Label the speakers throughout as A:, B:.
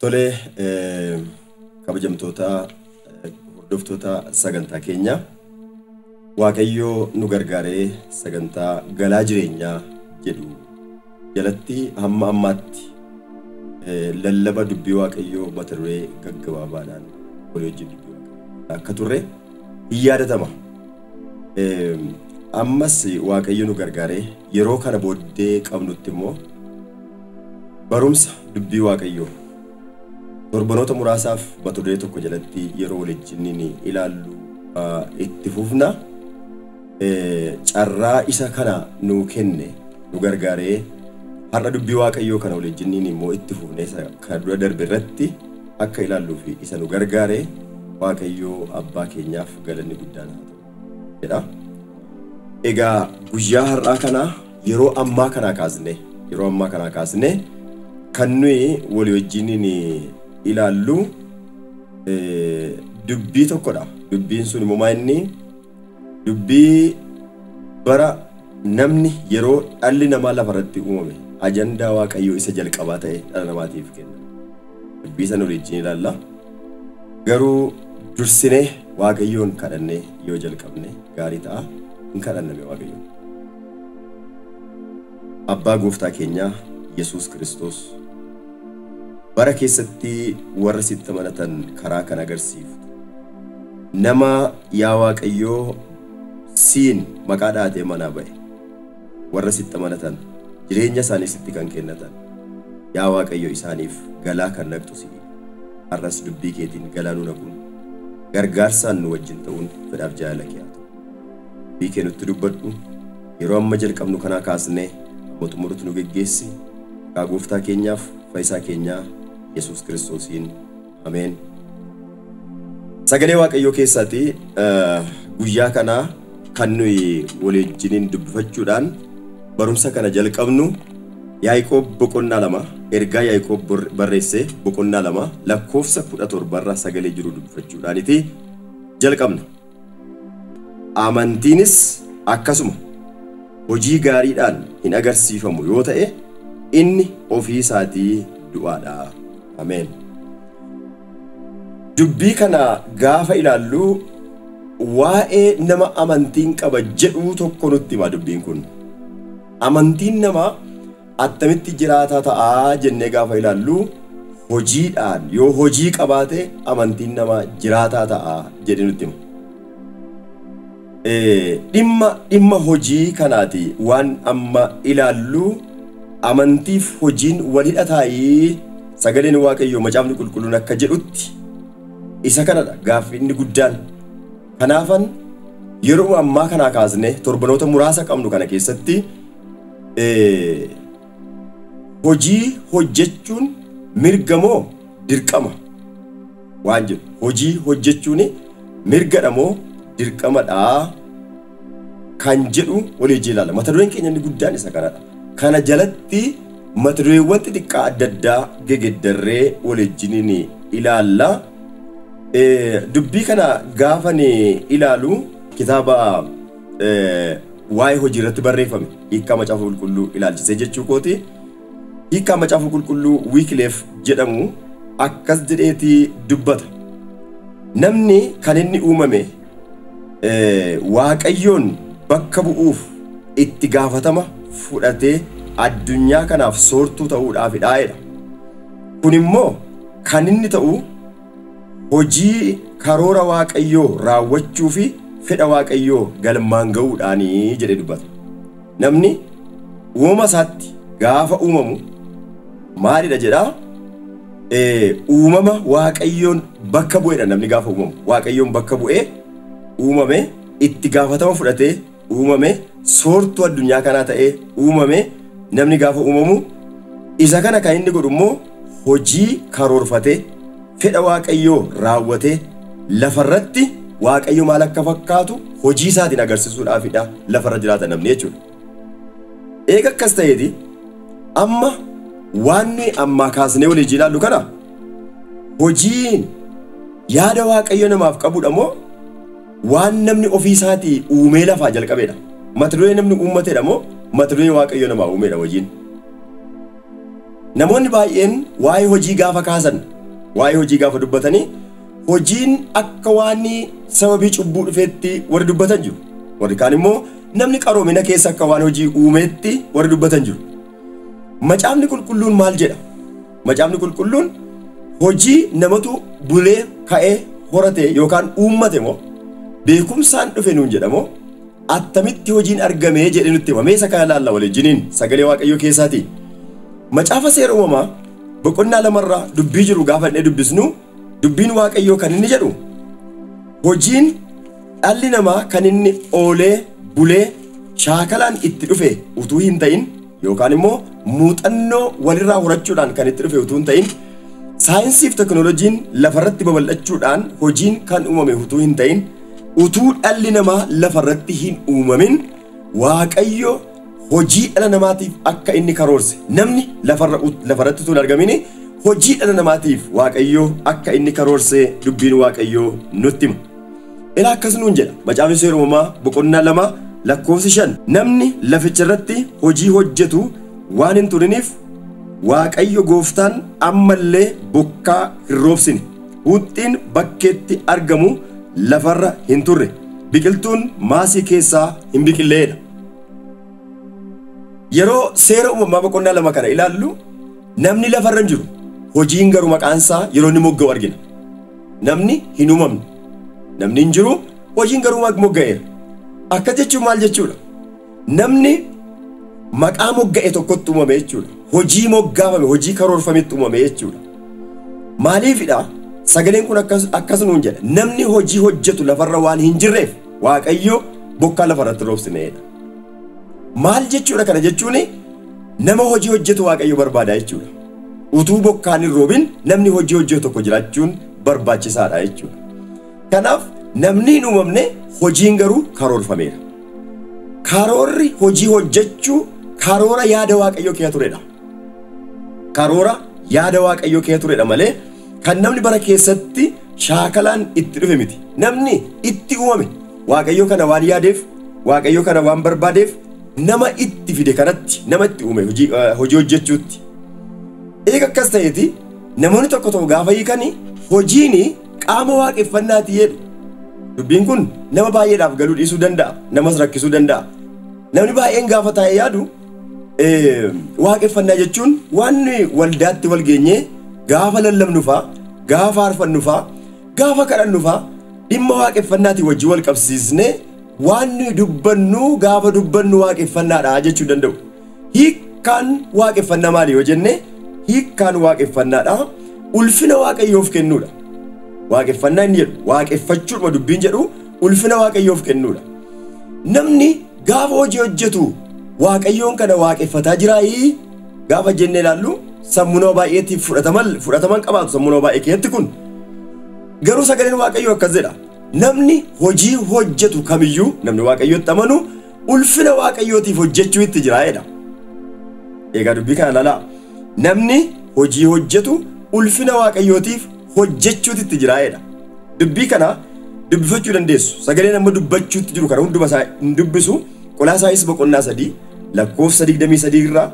A: Tole kabajamtoota hordoftoota sagantaa keenya Waaqayyoo nu gargaaree sagantaa galaa jireenyaa jedhu jalatti hamma ammaatti lallaba dubbii Waaqayyoo mata duree gaggabaabaadhaan walii wajjin dubbii Waaqayyoo akka turre hin yaadatama. Ammas Waaqayyo nu gargaaree yeroo kana booddee qabnutti immoo Barumsa dubbii waaqayyoo torbanoota muraasaaf mata duree tokko jalatti yeroo walijjinniin ilaallu itti fufna. Carraa isa kana nuu kenne nu gargaaree har'a dubbii waaqayyoo kana walijjinniin immoo itti fufne isa kana dura darbe irratti akka ilaalluuf isa nu gargaare waaqayyoo abbaa keenyaaf galanni guddaan haa ta'u jedha. Egaa guyyaa har'aa kana Yeroo ammaa kanaa kaasnee yeroo ammaa kanaa kaasnee kan nuyi walii wajjiniin ilaallu dubbii tokkodha. Dubbiin sun immoo inni dubbii bara namni yeroo dhalli namaa lafa irratti uumame ajandaa Waaqayyoo isa jalqabaa ta'e dhala namaatiif kenna. Dubbii sana walii wajjin ilaalla. Garuu dursinee Waaqayyoon kadhannee yoo jalqabne gaarii ta'a. Hin kadhanname Waaqayyoon. Abbaa gooftaa keenyaa Yesuus Kiristoos, bara keessatti warra sitti amanatan karaa kan agarsiiftu, nama yaa Waaqayyoo siin maqaa dhaatee manaa ba'e, warra sitti amanatan jireenya isaanii sitti kan kennatan, yaa Waaqayyo isaaniif galaa kan naqxu si'i. Har'as dubbii keetiin galaa nu naquun, gargaarsaan nu wajjin ta'uun fedhaaf jaalala kee haa ta'u. Dubbii kee nutti dubbadhu, yeroo amma jalqabnu kanaa kaasnee hamma xumurutti nu geggeessi, maqaa Gooftaa keenyaaf Fayyisaa keenyaa Yesuus Kiristoosiin. Ameen. Sagalee Waaqayyoo keessaati guyyaa kana kan nuyi walii wajjiniin dubbifachuudhaan barumsa kana jalqabnu Yaaqoob boqonnaa lama ergaa Yaaqoob bor- barreesse boqonnaa lama lakkoofsa kudha torba irra sagalee jiru dubbifachuudhaaniti jalqabna. Amantiinis akkasuma hojii gaariidhaan hin agarsiifamu yoo ta'e inni ofii isaatii du'aa dha. Ameen. Dubbii kana gaafa ilaallu waa'ee nama amantiin qaba jedhuu tokko nutti hima dubbiin kun. Amantiin namaa Attamitti jiraataa ta'a jennee gaafa ilaallu hojiidhaan yoo hojii qabaate amantiin namaa jiraataa ta'a jedhee nutti hima. Ee, dhimma dhimma hojii kanaati waan amma ilaallu amantiif hojiin wal hidhataayii? Sagaleen Waaqayyoo macaafni qulqulluun akka jedhutti isa kanadha gaaffi inni guddaan. Kanaafan yeruma ammaa kanaa kaasnee torbanoota muraasa qabnu kana keessatti hojii hojjechuun mirga moo dirqama waan jedhu hojii hojjechuun mirgadha moo dirqamadha kan jedhu walii wajjin ilaalla. Mata dureen keenya inni guddaan isa kanadha. Kana jalatti mata dureewwan xixiqqaa adda addaa gegeddarree walii wajjin ilaalla. Dubbii kana gaafan ilaalu kitaaba Waa'ee hojii irratti barreeffame hiikkaa Macaafa Qulqulluu ilaalchisee jechuu kooti. Hiikkaa Macaafa Qulqulluu Wiikleef jedhamu akkas jedheeti dubbata. Namni kan inni uumame Waaqayyoon bakka bu'uuf itti gaafatama fudhatee addunyaa kanaaf soortuu ta'uudhaafidha jedha. Kun immoo kan inni ta'u Hojii karoora Waaqayyoo raawwachuu fi fedha Waaqayyoo galmaan ga'uudhaani jedhee dubbata. Namni uumama isaatti gaafa uumamu maalidha jedhaa? Ee, uumama Waaqayyoon bakka bu'edha namni gaafa uumamu. Waaqayyoon bakka bu'ee uumame itti gaafatama fudhatee uumame soortuu addunyaa kanaa ta'ee uumame namni gaafa uumamu isa kana kan inni godhu immoo hojii karoorfatee fedha waaqayyoo raawwatee lafarratti waaqayyo maal akka fakkaatu hojii isaatiin agarsiisuudhaafidha lafarra jiraata namni jechuudha. Eega akkas ta'eeti amma waan nuyi ammaa kaasnee walii ilaallu kana hojiin yaada waaqayyo namaaf qabudha moo Waan namni ofii isaatii uumee lafaa jalqabeedha. Mata duree namni uummateedha moo mata duree Waaqayyo namaa uumeedha wajiin? Namoonni baay'een waa'ee hojii gaafa kaasan, waa'ee hojii gaafa dubbatanii hojiin akka waan sababii cubbuu dhufeetti warri dubbatan jiru. Warri kaan immoo namni qaroomina keessa akka waan hojii uumeetti warri dubbatan jiru. Macaafni qulqulluun maal jedha? Macaafni qulqulluun hojii namatu bulee ka'ee horate yookaan uummate moo beekumsaan dhufe nuun jedhamoo attamitti hojiin argame jedhe nutti hima. Mee isa kana ilaalla waliijiniin sagalee waaqayyoo keessaati. Macaafa seera uumamaa boqonnaa lamarraa dubbii jiru gaafa inni dubbisnu dubbiin waaqayyoo kan inni jedhu hojiin dhalli namaa kan inni oolee bulee shaakalaan itti dhufe utuu hin ta'in yookaan immoo muuxannoo walirraa horachuudhaan kan itti dhufe utuu hin ta'in saayinsii fi teknooloojiin lafarratti babal'achuudhaan hojiin kan uumame utuu hin ta'in utuu dhalli namaa lafarratti hin uumamin waaqayyo hojii dhala namaatiif akka inni karoorse namni lafarra ut- lafarratti utuu hin argamin hojii dhala namaatiif waaqayyo akka inni karoorse dubbiin waaqayyo nutti hima. Ilaa akkas nuun jedha macaafni seera uumamaa boqonnaa lama lakkoofsi shan namni laficha irratti hojii hojjetu waan hin turiniif waaqayyo gooftaan ammallee bokkaa hin roobsine huuxxiin bakkeetti argamu lafarra hin turre biqiltuun maasii keessaa hin biqilleedha. Yeroo seera uumamaa boqonnaa lama kana ilaallu namni lafarra hin jiru hojiin garuu maqaansaa yeroo inni mogga'u argina. Namni hin uumamne. Namni hin jiru, hojiin garuu mag- mogga'eera. Akkas jechuun maal jechuudha? Namni maqaa mogga'e tokkotti uumame jechuudha. Hojii moggaafame, hojii karoorfametti uumame jechuudha. Maaliifidha? Sagaleen kun akkas, akkas nuun jedha. Namni hojii hojjetu lafarra waan hin jirreef Waaqayyo bokkaa lafarratti roobsineedha. Maal jechuudha kana jechuun nama hojii hojjetu Waaqayyo barbaada jechuudha. Utuu bokkaan hin roobin namni hojii hojjetu tokko jiraachuun barbaachisaadha jechuudha. Kanaaf namni hin uumamne hojiin garuu karoorfameera. Karoorri hojii hojjechuu karoora yaada Waaqayyoo keessa turedha. Karoora yaada Waaqayyoo keessa turedha malee kan namni bara keessatti shaakalaan itti dhufe miti. Namni itti uumame Waaqayyo kana waan yaadeef, Waaqayyo kana waan barbaadeef nama itti fide kanatti, nama itti uume hojii, eh, hojii hojjechuutti. Eega akkas ta'eeti namoonni tokko tokko gaafa hiikani hojiini qaama waaqeffannaati jedhu. Dubbiin kun nama baay'eedhaaf galuu dhiisuu danda'a, namas rakkisuu danda'a. Namni baay'een gaafa taa'ee yaadu eh, waaqeffannaa jechuun waan waldaatti wal geenyee gaafa lallabnu fa'a, gaafa faarfannu fa'a, Gaafa kadhannu faa dhimma waaqeffannaatiin wajjin wal qabsiisnee waan nuyi dubbannu gaafa dubbannu waaqeffannaadha jechuu hin danda'u. Hiikkaan waaqeffannaa maali yoo jenne hiikkaan waaqeffannaadha ulfina waaqayyoof kennuudha. Waaqeffannaa inni jedhu waaqeffachuudhuma dubbiin jedhu ulfina waaqayyoof kennuudha. Namni gaafa hojii hojjetu waaqayyoon kana waaqeffataa jiraayii? Gaafa jennee ilaallu sammuu nama baay'eetiif fudhataman fudhataman qabaatu sammuu nama baay'ee keessatti kun. Garuu sagaleen Waaqayyoo akkas jedha. Namni hojii hojjetu kamiyyuu namni Waaqayyootti amanu ulfina Waaqayyootiif hojjechuu itti jira jedha. Egaa dubbii kana ilaalaa. Namni hojii hojjetu ulfina Waaqayyootiif hojjechuutu itti jira jedha. Dubbii kana dubbifachuu dandeessu. Sagaleen amma dubbachuutti jiru kana hunduma isaa hin dubbisu. Qolaasaayis boqonnaa sadii lakkoofsa 23 irraa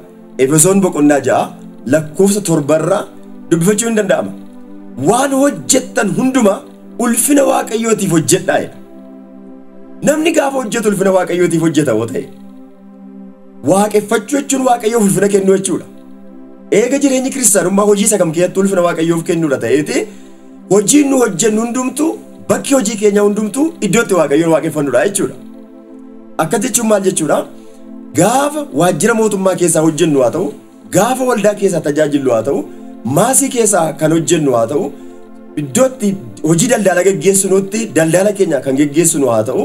A: Efesoon boqonnaa 6 lakkoofsa 7 irraa dubbifachuun hin danda'ama. Waan hojjettan hundumaa ulfina Waaqayyootiif hojjedhaa jedha. Namni gaafa hojjetu ulfina Waaqayyootiif hojjeta yoo ta'e waaqeffachuu jechuun Waaqayyoof ulfina kennuu jechuudha. Eega jireenyi kiristaanummaa hojii isa kam keessatti ulfina Waaqayyoof kennuudha ta'eeti hojiin nu hojjennu hundumtuu bakki hojii keenyaa hundumtuu iddoo itti Waaqayyoon waaqeffannuudha jechuudha. Akkas jechuun maal jechuudha? Gaafa waajjira mootummaa keessaa hojjennu haa ta'u, gaafa waldaa keessaa tajaajillu haa ta'u, maasii keessaa kan hojjennu haa ta'u, iddootti hojii daldaalaa geggeessinutti daldaala keenya kan geggeessinu haa ta'u,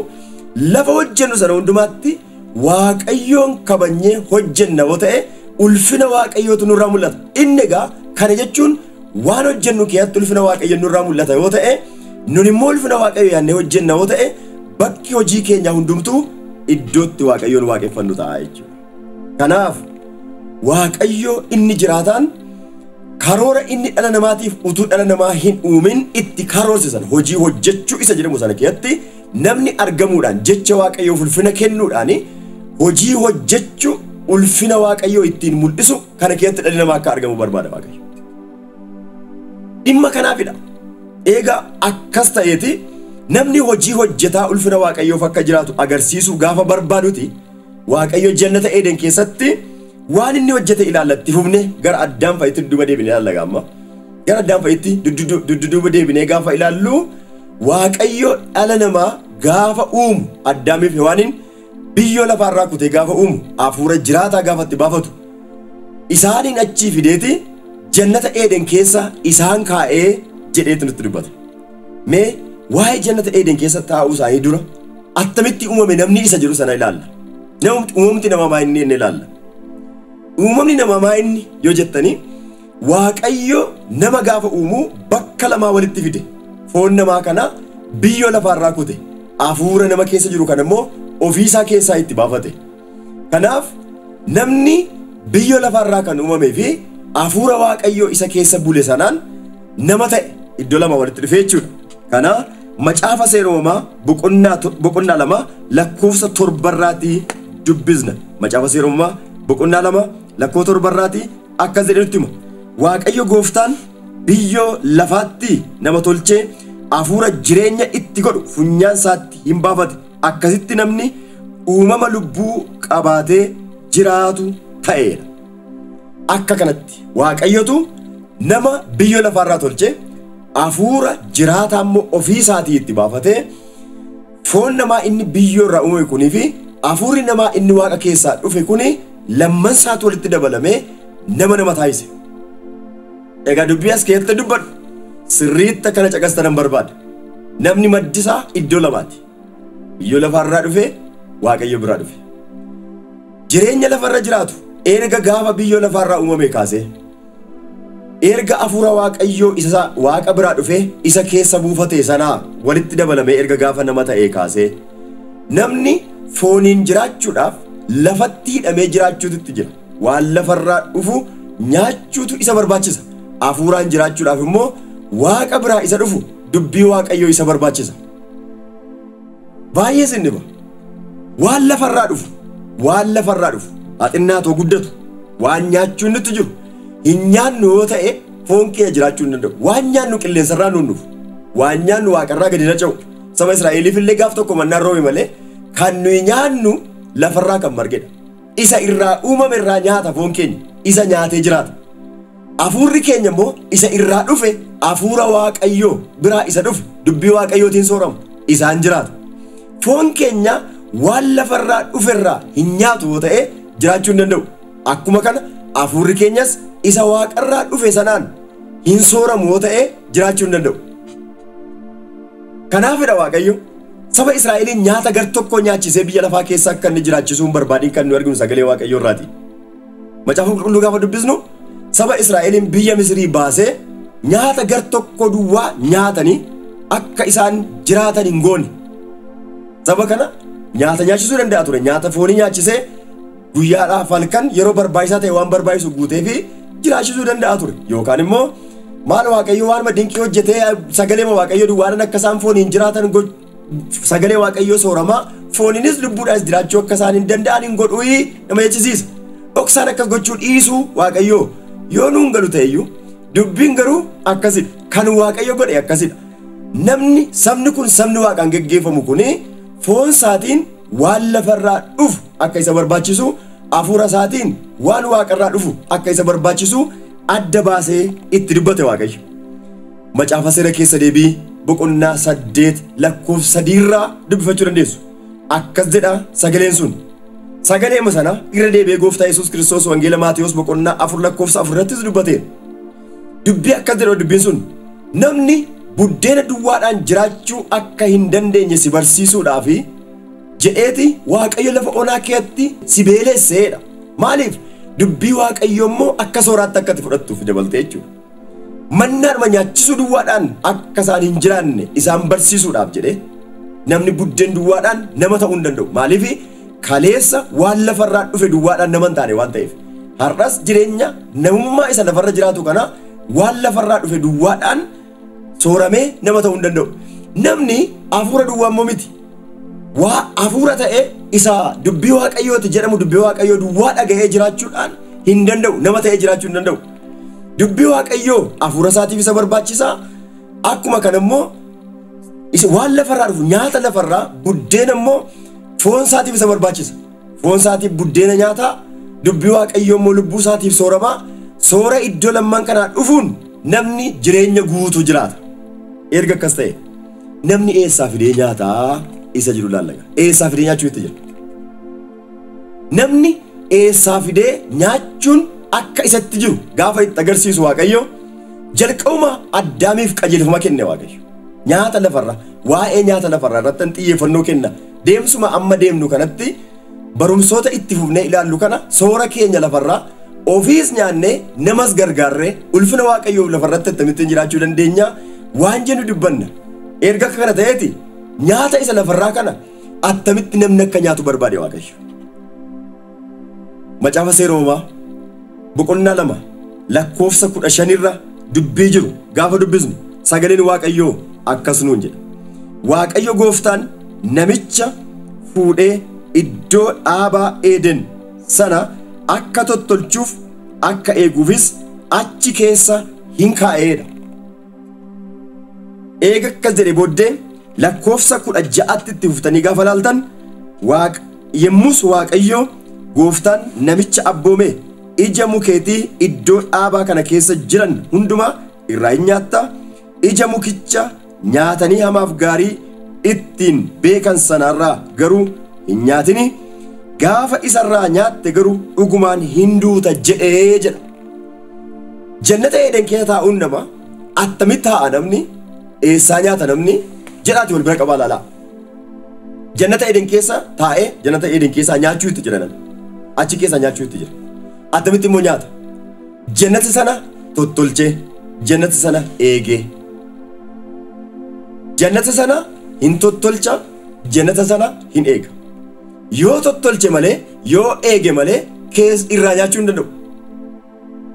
A: lafa hojjennu sana hundumaatti Waaqayyoon kabajnee hojjenna yoo ta'e ulfina Waaqayyootu nurraa mul'ata. Inni egaa kana jechuun Waan hojjennu keessatti ulfina Waaqayyo nurraa mul'ata yoo ta'e, nun immoo ulfina Waaqayyo yaannee hojjenna yoo ta'e, bakki hojii keenyaa hundumtuu iddootti Waaqayyoon waaqeffannu ta'a jechuudha. Kanaaf Waaqayyo inni jiraataan karoora inni dhala namaatiif utuu dhala namaa hin uumin itti karoorsisan hojii hojjechuu isa jedhamu sana keessatti namni argamuudhaan jecha waaqayyoo ulfina kennuudhaan hojii hojjechu ulfina waaqayyoo ittiin mul'isu kana keessatti dhalli namaa akka argamu barbaada Waaqayyo. Dhimma kanaafidha. Eega akkas ta'eeti namni hojii hojjetaa ulfina Waaqayyoof akka jiraatu agarsiisuu gaafa barbaaduti Waaqayyo jannata Eeden keessatti waan inni hojjete ilaallatti fufne gara addaan fa'itti dudduuba deebine ilaalla gaamma. Gara addaan fa'itti dudduuba deebinee gaafa ilaallu Waaqayyo dhala namaa gaafa uumu addaamiif hewaaniin biyyoo lafaa irraa kutee gaafa uumu hafuura jiraataa gaafa itti baafatu isaaniin achii fideeti jannata eeden keessa isaan kaa'ee jedheetu nutti dubbata. Mee waa'ee jannata eeden keessa taa'uu isaanii dura attamitti uumame namni isa jedhu sana ilaalla. Namumti- Uumamti namaa maa inni inni ilaalla. Uumamni namaa maa inni yoo jettanii Waaqayyo nama gaafa uumu bakka lamaa walitti fide. Foon namaa kana biyyoo lafaarraa kute. Hafuura nama keessa jiru kana immoo ofiisaa keessaa itti baafate. Kanaaf namni biyyoo lafaarraa kan uumamee fi hafuura Waaqayyoo isa keessa bule sanaan nama ta'e iddoo lama walitti dhufe jechuudha. Kana macaafa seera uumamaa boqonnaa to- boqonnaa lama lakkoofsa torbarraatii dubbisna. Macaafa seera uumamaa boqonnaa lama lakkoo torbarraatii akkas jedhee nutti hima, Waaqayyo gooftaan biyyoo lafaatti nama tolchee hafuura jireenya itti godhu funyaan isaatti hin baafate, akkasitti namni uumama lubbuu qabaatee jiraatu ta'eera. Akka kanatti Waaqayyotu nama biyyoo lafaarraa tolchee hafuura jiraataa immoo ofii isaatii itti baafatee, Foon namaa inni biyyoo irraa uumame kunii fi hafuurri namaa inni Waaqa keessaa dhufe kun lamman isaatu walitti dabalamee nama nama taasise. Egaa dubbii as keessatti dubbadhu sirriitti akkana caqastanan barbaada. Namni maddi isaa iddoo lamaati. Biyyoo lafaa irraa dhufe, Waaqayyo biraa dhufe. Jireenya lafa irra jiraatu erga gaafa biyyoo lafaa irraa uumame kaasee. Erga Afuura Waaqayyoo isa Waaqa biraa dhufee isa keessa buufatee sanaa walitti dabalamee erga gaafa nama ta'ee kaasee namni fooniin jiraachuudhaaf lafatti hidhamee jiraachuutu itti jira. Waan lafarraa dhufu nyaachuutu isa barbaachisa. Afuuraan jiraachuudhaaf immoo Waaqa biraa isa dhufu dubbii Waaqayyoo isa barbaachisa. Baay'ee sin dhiba. Waan lafarraa dhufu, waan lafarraa dhufu, haa xinnaatu haa guddatu, waan nyaachuun nutti jiru, hin nyaannu yoo ta'e foon kiyya jiraachuu hin danda'u. Waan nyaannu qilleensarraa nuun dhufu, waan nyaannu waaqarraa gadi naca'u. Saba Israa'eliif illee gaaf tokko mannaan roobe malee kan nuyi nyaannu lafarraa kan margedha. Isa irraa uumame irraa nyaata foon keenya, isa nyaatee jiraata. Hafuurri keenya immoo isa irraa dhufe Hafuura Waaqayyoo biraa isa dhufe dubbii Waaqayyootiin soorama, isaan jiraata. Foon keenya waan lafa irraa dhufe irraa hin nyaatu yoo ta'e jiraachuu hin danda'u. Akkuma kana hafuurri keenyas isa waaqa irraa dhufe sanaan hin sooramu yoo ta'e jiraachuu hin danda'u. Kanaafidha Waaqayyo saba Israa'eliin nyaata gar tokkoo nyaachisee biyya lafaa keessa akka inni jiraachisuu hin barbaadin kan nu arginu sagalee Waaqayyoo irraati. Macaafa qulqulluu gaafa dubbisnu saba Israa'eliin biyya Misirii baasee nyaata gar tokko duwwaa nyaatanii akka isaan jiraatan hin goone. Saba kana nyaata nyaachisuu danda'a ture. Nyaata foonii nyaachisee guyyaadhaaf halkan yeroo barbaachisaa ta'e waan barbaachisu guutee fi jiraachisuu danda'a ture. Yookaan immoo maal waaqayyo waanuma dinqii hojjetee sagalee waaqayyo duwwaanan akka isaan fooniin jiraatan gochuu sagalee waaqayyoo sooramaa fooninis lubbuudhaas jiraachuu akka isaan hin danda'an hin godhu nama jechisiisa. Dhoksaan akkas gochuu dhiisuu waaqayyoo yoo nuun galu ta'eyyuu dubbiin garuu akkasidha. Kan waaqayyo godhe akkasidha. Namni sabni kun sabni waaqaan geggeeffamu kun foon isaatiin waan lafarraa dhufu akka isa barbaachisu hafuura isaatiin waan waaqarraa dhufu akka isa barbaachisu adda baasee itti dubbate waaqayyo. Macaafa Seera Keessa Deebii boqonnaa 8 lakkoofsa 3 irraa dubbifachuu dandeessu. Akkas jedha sagaleen sun. Sagaleema sana irra deebi'ee gooftaa Yesuus Kiristoos Wangeela Maatewos boqonnaa 4 lakkoofsa 4 irrattis dubbateera. Dubbii akkas jedha dubbiin sun. Namni buddeena duwwaadhaan jiraachuu akka hin dandeenye si barsiisuudhaaf jedheeti Waaqayyo lafa onaa keetti si beelesseedha. Maaliif? Dubbii Waaqayyo immoo akka sooraatti akka itti fudhattuuf dabaltee jechuudha. Mannaadhuma nyaachisuu duwwaadhaan akka isaan hin jiraanne isaan barsiisuudhaaf jedhee namni buddeen duwwaadhaan nama ta'uu hin danda'u. Maaliif kaleessa waan lafarraa dhufe duwwaadhaan nama hin taane waan ta'eef. Har'as jireenya namummaa isa lafarra jiraatu kana waan lafarraa dhufe duwwaadhaan sooramee nama ta'uu hin danda'u. Namni hafuura duwwaa immoo miti. waa hafuura ta'ee isa dubbii waaqayyooti jedhamu dubbii waaqayyoo duwwaa dhaga'ee jiraachuudhaan hin danda'u nama ta'ee jiraachuu hin danda'u dubbii waaqayyoo hafuura isaatiif isa barbaachisa akkuma kana immoo isa waan lafarraa dhufu nyaata lafarraa buddeena immoo foon isaatiif isa barbaachisa foon isaatiif buddeena nyaataa dubbii waaqayyoo immoo lubbuu isaatiif sooramaa soora iddoo lamman kanaa dhufuun namni jireenya guutuu jiraata erga akkas ta'e. Namni eessaa fidee nyaata isa jedhu ilaalla egaa. Eessaa fidee nyaachuu itti jira. Namni eessaa fidee nyaachuun akka isatti jiru gaafa itti agarsiisu Waaqayyo jalqabuma Addaamiif qajeelfama kenne Waaqayyo. Nyaata lafarra waa'ee nyaata lafarraa irratti xiyyeeffannoo kenna. Deemsuma amma deemnu kanatti barumsoota itti fufnee ilaallu kana soora keenya lafarraa ofiis nyaannee namas gargaarree ulfina waaqayyoof lafarratti attamittiin jiraachuu dandeenya waan jennu dubbanna erga akka kana ta'eeti nyaata isa lafarraa kana attamitti namni akka nyaatu barbaade waaqayyo macaafa seera uumamaa boqonnaa 2 lakkoofsa 15 irra dubbii jiru gaafa dubbisnu sagaleen Waaqayyoo akkas nuun jedha. Waaqayyo gooftaan namicha fuudhee iddoo dhaabaa Eeden sana akka tottolchuuf akka eeguufis achi keessa hin kaa'eedha. Eega akkas jedhe booddee lakkoofsa kudha ja'atti itti fuftanii gaafa laaltan waaq yemmus waaqayyoo gooftaan namicha abboomee ija mukeetii iddoo dhaabaa kana keessa jiran hundumaa irraa in nyaatta ija mukicha nyaatanii hamaaf gaarii ittiin beekan sanaarraa garuu hin nyaatini gaafa isarraa nyaatte garuu dhugumaan hin duuta jedhee jedha. Jannata Eeden keessa taa'uun nama attamitti taa'a namni eessaa nyaata namni jedhaati wal bira qabaa laalaa. Jannata Eeden keessa taa'ee jannata Eeden keessaa nyaachuu itti jira namni. Achi keessaa nyaachuu itti jira. Attamitti immoo nyaata. Jannata sana tottolchee jannata sana eegee. Jannata sana hin tottolcha jannata sana hin eega. Yoo tottolche malee, yoo eege malee kees irraa nyaachuu hin danda'u.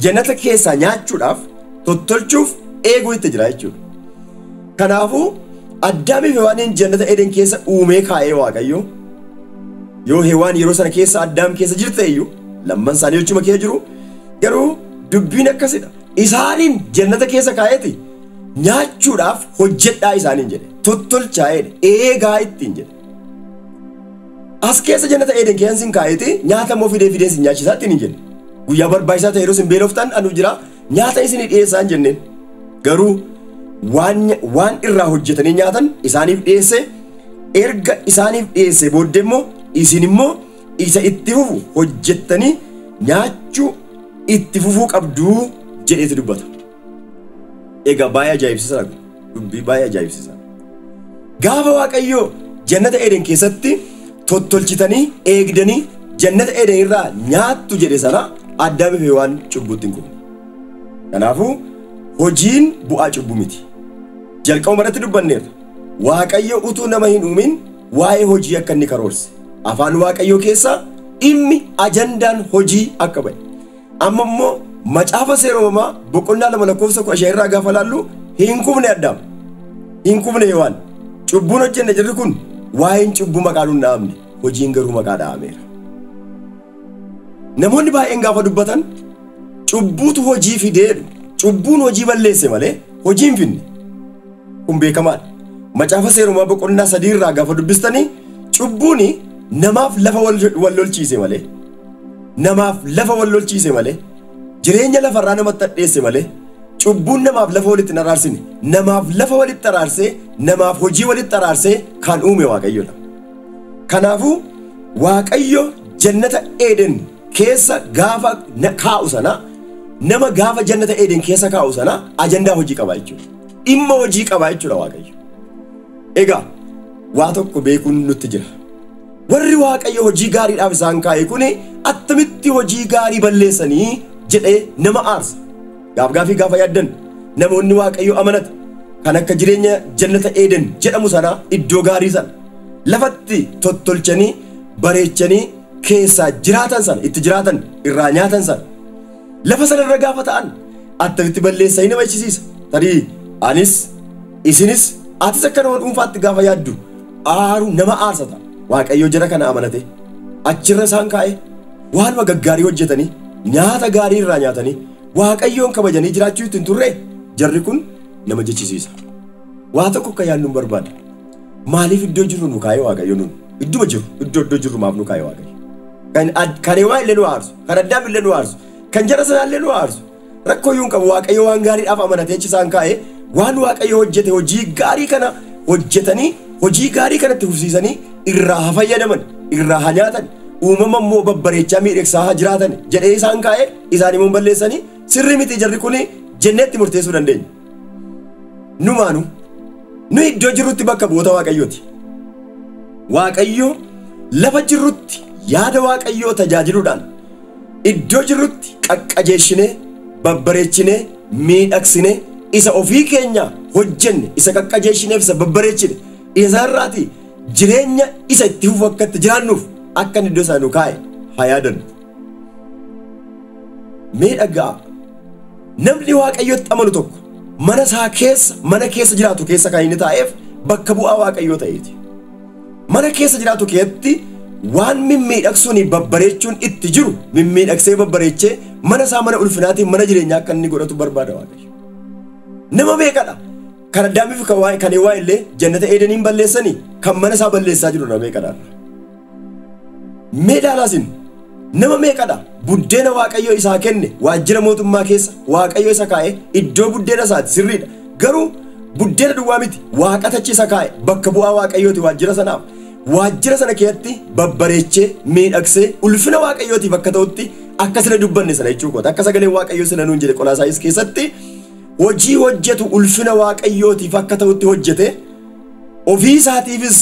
A: Jannata keessaa nyaachuudhaaf tottolchuuf eeguu itti jira jechuudha. Kanaafuu Addaamii fi Hewaaniin jannata Eden keessa uumee kaa'ee Waaqayyo yoo Hewaan yeroo sana keessa Addaam keessa jirte iyyuu lamman isaanii jechuma kee jiru garuu dubbiin akkasidha. Isaaniin jannata keessa kaa'eeti nyaachuudhaaf hojjedhaa isaaniin jedhe tottolchaa'eedha eegaa ittiin jedhe. As keessa jannata Eeden keessan sin kaa'eeti nyaata immoo fidee fidee sin nyaachisaa ittiin hin jenne. Guyyaa barbaachisaa ta'e yeroo sin beeloftan anu jira nyaata isin dhiyeessaa hin jenneen. Garuu waan waan irraa hojjetanii nyaatan isaaniif dhiyeesse erga isaaniif dhiyeesse booddee immoo isin immoo isa itti fufu hojjettanii nyaachuu itti fufuu qabdu jedheeti dubbata. Egaa baay'ee ajaa'ibsiisaa dha. Dubbii baay'ee ajaa'ibsiisaa dha. Gaafa Waaqayyoo jannata Eden keessatti tottolchitanii eegdanii jannata Eden irraa nyaattu jedhe sana Addaamii fi Hewaan cubbuutti hin kufne. Kanaafuu hojiin bu'aa cubbuu miti. Jalqabuma irratti dubbanneerra. Waaqayyo utuu nama hin uumin waa'ee hojii akka inni karoorse. Afaan Waaqayyoo keessaa dhimmi ajandaan hojii akka ba'e. Amma immoo macaafa seera uumamaa boqonnaa lama lakkoofsa kudha shan irraa gaafa laallu hin kufne addaam. Hin kufne hewaan. Cubbuun hojjenne jirri kun waa'een cubbuu maqaan hin dhahamne hojiin garuu maqaa dhahameera. Namoonni baay'een gaafa dubbatan cubbuutu hojii fidee jedhu. Cubbuun hojii balleesse malee hojii hin fidne. Kun beekamaadha. Macaafa seera uumamaa boqonnaa sadii irraa gaafa dubbistanii cubbuun namaaf lafa wal lolchiise malee. namaaf lafa wal lolchiise malee, jireenya lafa irraa namatti hadheesse malee, cubbuun namaaf lafa walitti hin araarsine. Namaaf lafa walitti araarsee, namaaf hojii walitti araarsee kan uume Waaqayyodha. Kanaafuu Waaqayyo jannata Eeden keessa gaafa na- kaa'u sana, nama gaafa jannata Eeden keessa kaa'u sana ajandaa hojii qaba jechuudha. Dhimma hojii qaba jechuudha Waaqayyo. Egaa waa tokko beekuun nutti jira. Warri Waaqayyo hojii gaariidhaaf isaan kaa'e kun attamitti hojii gaarii balleessanii jedhee nama aarsa. Gaafgaafii gaafa yaaddan namoonni Waaqayyo amanata kan akka jireenya jannata Eeden jedhamu sanaa iddoo gaarii sana lafatti tottolchanii bareechanii keessaa jiraatan sana itti jiraatan irraa nyaatan sana lafa sana irra gaafa ta'an attamitti balleessa hin amachisiisa tarii anis isinis atis akka nama dhuunfaatti gaafa yaaddu aaru nama aarsa ta'a waaqayyo jara kana amanate achirra isaan kaa'e waanuma gaggaarii hojjetanii nyaata gaarii irraa nyaatanii waaqayyoon kabajanii jiraachuu ittiin turre jarri kun nama jechisiisa waa tokko akka yaadnu barbaada Maaliif iddoo jirru nu kaa'ee Waaqayyo nuun? Idduma jiru, iddoo iddoo jirru maaf nu kaa'ee Waaqayyo? Kan ad- kan Hewaa illee nu aarsu, kan Addaam illee nu aarsu, kan jara sanaa illee nu aarsu. Rakkoo iyyuu hin qabu Waaqayyo waan gaariidhaaf amanatee achi isaan kaa'ee waan Waaqayyo hojjete hojii gaarii kana hojjetanii hojii gaarii kanatti fufsiisanii irraa haa fayyadaman, irraa haa nyaatan, uumama immoo babbareechaa miidhagsaa haa jiraatan jedhee isaan kaa'ee isaan immoo hin balleessanii sirrii miti jarri kuni jennee itti murteessuu dandeenya. Numaanu nu iddoo jirrutti bakka bu'oota Waaqayyooti. Waaqayyo lafa jirrutti yaada Waaqayyoo tajaajiluudhaan iddoo jirrutti qaqqajeeshinee, babbareechinee, miidhagsinee isa ofii keenya hojjenne, isa qaqqajeeshineef isa babbareechine, isa irraati jireenya isa itti fufu akka itti jiraannuuf akka inni iddoo sana nu kaa'e haa yaadannu. Mee dhaga'aa. Namni Waaqayyotti amanu tokko mana isaa keessa mana keessa jiraatu keessa kan inni taa'eef bakka bu'aa Waaqayyoo ta'eeti. Mana keessa jiraatu keessatti waan mimmiidhagsuun babbareechuun itti jiru mimmiidhagsee babbareechee mana isaa mana ulfinaatiin mana jireenyaa akka inni godhatu barbaada Waaqayyo. Nama meeqadha? Kan Addaamiif kan Hewaa illee jannata Eedeniin balleessanii kan mana isaa balleessaa jiru nama meeqadha? Mee ilaalaa isin nama meeqadha buddeena waaqayyo isaa kenne waajjira mootummaa keessa waaqayyo isa kaa'e iddoo buddeena isaati sirriidha garuu buddeena duwwaa miti waaqatachi isa kaa'e bakka bu'aa waaqayyooti waajjira sanaaf waajjira sana keessatti babbareechee miidhagsee ulfina waaqayyootiif akka ta'utti akka sila dubbanne sana jechuu koota akka sagalee waaqayyoo sila nuun jedhe qolaasaayis keessatti hojii hojjetu ulfina waaqayyootiif akka ta'utti hojjete Ofii isaatiifis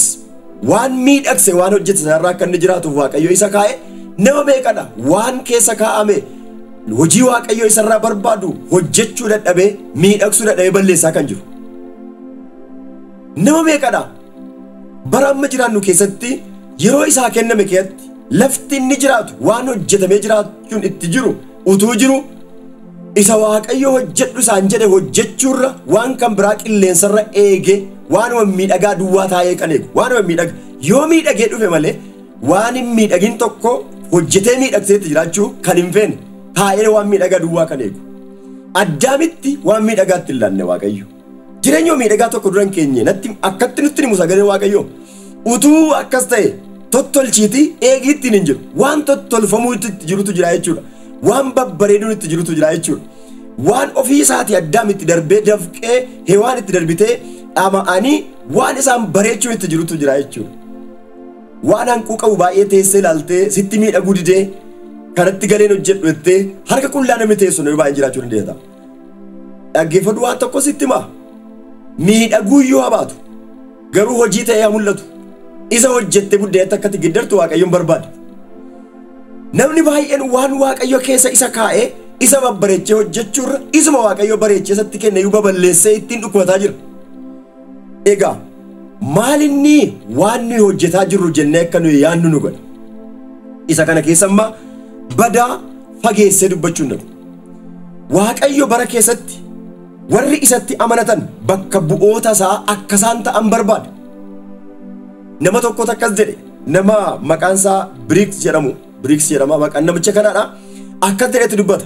A: waan miidhagse waan hojjete sanarraa akka inni jiraatuuf Waaqayyo isa kaa'e nama meeqadha waan keessa kaa'ame hojii Waaqayyo isarraa barbaadu hojjechuu dadhabee miidhagsuu dadhabee balleessaa kan jiru. Nama meeqadha bara amma jiraannu keessatti yeroo isaa kenname keessatti lafti inni jiraatu waan hojjetamee jiraachuun itti jiru utuu jiru Isa Waaqayyo hojjedhu isaan jedhe hojjechuurra waan kan biraa qilleensarra eegee waanuma miidhagaa duwwaa taa'ee kan eegu waanuma miidhaga yoo miidhagee dhufe malee waan hin miidhagin tokko hojjetee miidhagseetti jiraachuu kan hin feene taa'ee waan miidhagaa duwwaa kan eegu. Addaamitti waan miidhagaatti hin laanne Waaqayyo. Jireenya miidhagaa tokko duran keenye natti akkatti nutti himu sagalee waaqayyoo utuu akkas ta'e tottolchiiti eegii ittiin hin jiru waan tottolfamuu itti jirutu jira jechuudha waan babbareeduun itti jirutu jira jechuudha waan ofii isaatii addaam itti darbee dafqee hewaan itti darbitee dhama'anii waan isaan bareechuun itti jirutu jira jechuudha waan hanquu qabu baay'ee teessee ilaaltee sitti miidhaguu didee kanatti galeen hojjedhu jettee harka qullaa namni teessu yoo baay'een jiraachuu dandeessa. Dhaggeeffadhu waan tokko sitti himaa. Miidhaguu iyyuu habaatu. Garuu hojii ta'ee haa mul'atu. Isa hojjette buddeetti akkatti giddartu Waaqayyoon barbaada. Namni baay'een waan Waaqayyo keessa isa kaa'ee isa babbareechee hojjechuurra isuma Waaqayyo bareechee isatti kenne iyyuu baballeessee ittiin dhukkubataa jira. Egaa maalinni waan nuyi hojjetaa jirru jennee akka nuyi yaannu nu godha. Isa kana keessa ammaa badaa fageessee dubbachuu hin danda'u. Waaqayyo bara keessatti warri isatti amanatan bakka bu'oota isaa akka isaan ta'an barbaada. Nama tokkotu akkas jedhe, nama maqaan isaa Biriiks jedhamu, Biriiks jedhama maqaan namicha kanaadha, akkas jedhetu dubbata.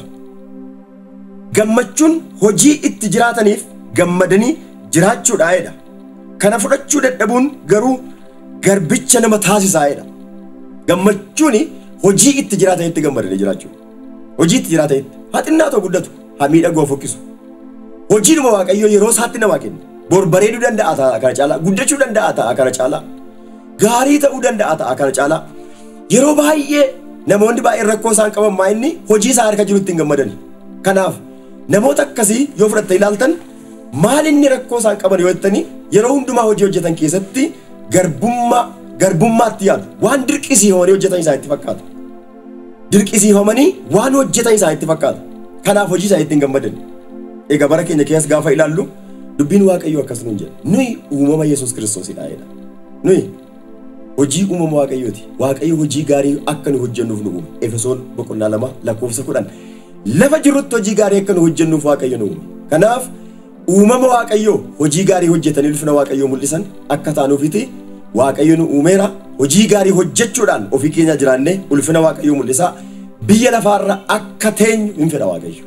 A: Gammachuun hojii itti jiraataniif gammadanii jiraachuudhaa jedha. Kana fudhachuu dadhabuun garuu garbicha nama taasisaa jedha. Gammachuun hojii itti jiraatanitti gammadanii jiraachuu. Hojiitti jiraa ta'etti haa xinnaatu haa guddatu haa miidhagu haa fokkisu. Hojiidhuma Waaqayyoo yeroo isaatti namaa kenne. Bor bareeduu danda'a ta'a kana caalaa guddachuu danda'a ta'a kana caalaa gaarii ta'uu danda'a ta'a kana caalaa yeroo baay'ee namoonni baay'een rakkoo isaan qaban maa inni hojii isaa harka jirutti hin gammadani. Kanaaf namoota akkasii yoo fudhatte ilaaltan maal inni rakkoo isaan qaban yoo jettanii yeroo hundumaa hojii hojjetan keessatti garbummaa garbummaatti yaadu waan dirqisiifamanii hojjetan isaanitti fakkaata. dirqisiifamanii waan hojjetan isaanitti fakkaata. Kanaaf hojii isaaniitti hin gammadan. Egaa bara keenya keessas gaafa ilaallu dubbiin Waaqayyoo akkas nuun jedha. Nuyi uumama Yesuus Kiristoosidha jedha. Nuyi hojii uumama Waaqayyooti. Waaqayyo hojii gaarii akka nu hojjennuuf nu uume. Efesoon boqonnaa lama lakkoofsa kudhan. Lafa jirrutti hojii gaarii akka nu hojjennuuf Waaqayyo nu uume. Kanaaf Uumama Waaqayyoo hojii gaarii hojjetanii ulfina Waaqayyoo mul'isan akka taanuufiti Waaqayyo nu uumeera. Hojii gaarii hojjechuudhaan ofii keenyaa jiraannee ulfina Waaqayyoo mul'isaa biyya lafaarra akka teenyu hin fedha Waaqayyo.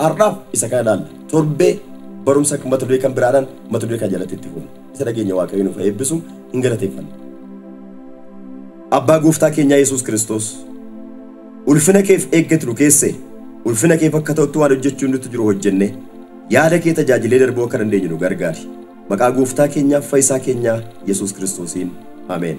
A: Har'aaf isa kana ilaalla. Torbee barumsa mata duree kan biraadhaan mata duree kana jalatti itti fuuna. Isa dhageenya Waaqayyo nuuf haa eebbisu hin galateeffanna. Abbaa gooftaa keenyaa Yesuus Kiristoos Ulfina keef eeggati nu keesse. Ulfina keef akka ta'utti waan hojjechuun nuttu jiru hojjenne yaada kee tajaajilee darbuu akka dandeenyu nu gargaari. Maqaa Gooftaa keenyaaf Fayisaa keenyaa Yesuus Kiristoosiin. Ameen.